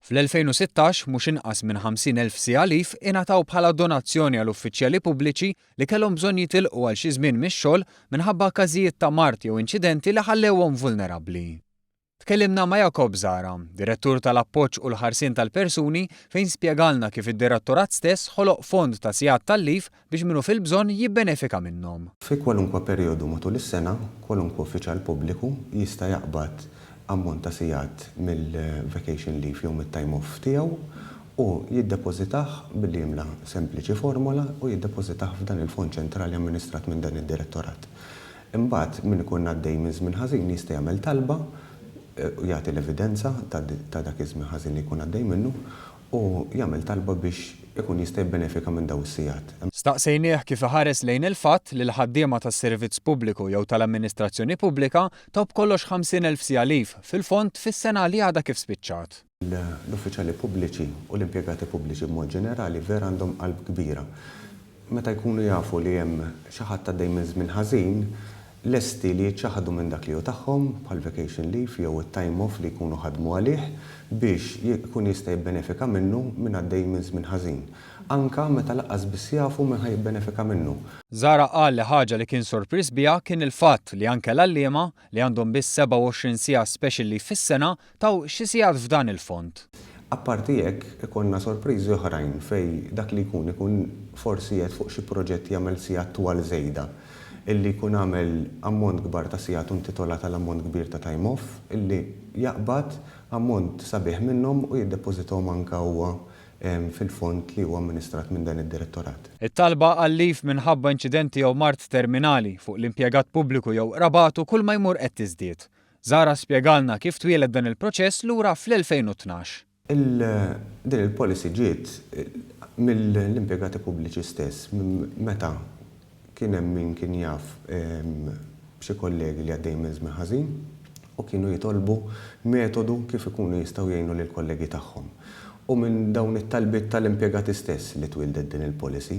Fl-2016, mhux inqas minn 50,000 siegħa leave ingħataw bħala donazzjoni għal uffiċjali pubbliċi li kellhom bżonn jitilqu għal xi żmien mix-xogħol minħabba każijiet ta' mard jew inċidenti li ħallewhom vulnerabbli. Tkellimna ma' Jacob Zahra, Direttur tal-Appoġġ u l-Ħarsien tal-Persuni, fejn spjegalna kif id-Direttorat stess ħoloq fond ta' sigħat tal-leave biex min hu fil-bżonn jibbenefika minnhom. Fi kwalunkwe perijodu matul is-sena, kwalunkwe uffiċjal pubbliku jista' jaqbad ammont ta' sigħat mill-vacation leave jew mit-time off tiegħu u jiddepożitah billi jimla sempliċi formola u jiddepożitah f'dan il-fond ċentrali amministrat minn dan id-Direttorat. Imbagħad, min ikun għaddej minn żmien ħażin jista' jagħmel talba u jagħti l-evidenza ta' dak iż-żmien ħażin li jkun għaddej minnu u jagħmel talba biex ikun jista' jibbenefika minn dawn is-sigħat. Staqsejnieh kif iħares lejn il-fatt li l-ħaddiema tas-servizz pubbliku jew tal-amministrazzjoni pubblika taw b'kollox 50 elf siegħa leave fil-fond fis-sena li għadha kif spiċċat. L-uffiċjali pubbliċi u l-impjegati pubbliċi b'mod ġenerali vera għandhom qalb kbira. meta jkunu jafu li hemm xi ħadd għaddej minn żmien ħażin, lesti li jiċċaħħdu minn dak li hu tagħhom, bħall-vacation leave jew it-time off li jkunu ħadmu għalih, biex ikun jista' jibbenefika minnu min għaddej minn żmien ħażin, anke meta lanqas biss jafu min ħa jibbenefika minnu. Zahra qal li ħaġa li kien sorpriż biha kien il-fatt li anke l-għalliema li għandhom biss 27 siegħa speċjli fis-sena, taw xi sigħat f'dan il-fond. Apparti hekk, ikollna sorpriżi oħrajn fejn dak li jkun ikun forsi qiegħed fuq xi proġett jagħmel sigħat twal żejda, illi jkun għamel ammont kbar ta' sigħat u intitolat għal ammont kbir ta' time off, illi jaqbad ammont sabiħ minnhom u jiddepożitahom anke huwa fil-fond li huwa amministrat minn dan id-Direttorat. It-talba għal leave minħabba inċidenti jew mard terminali fuq l-impjegat pubbliku jew qrabatu kull ma jmur qed tiżdied. Zahra spjegalna kif twieled dan il-proċess lura fl-2012. Din il-policy ġiet mill-impjegati pubbliċi stess meta Kien hemm min kien jaf b'xi kollegi li għaddejjin minn żmien ħażin u kienu jitolbu metodu kif ikunu jistgħu jgħinu lill-kollegi tagħhom. Hu minn dawn it-talbiet tal-impjegati stess li twieldet din il-policy.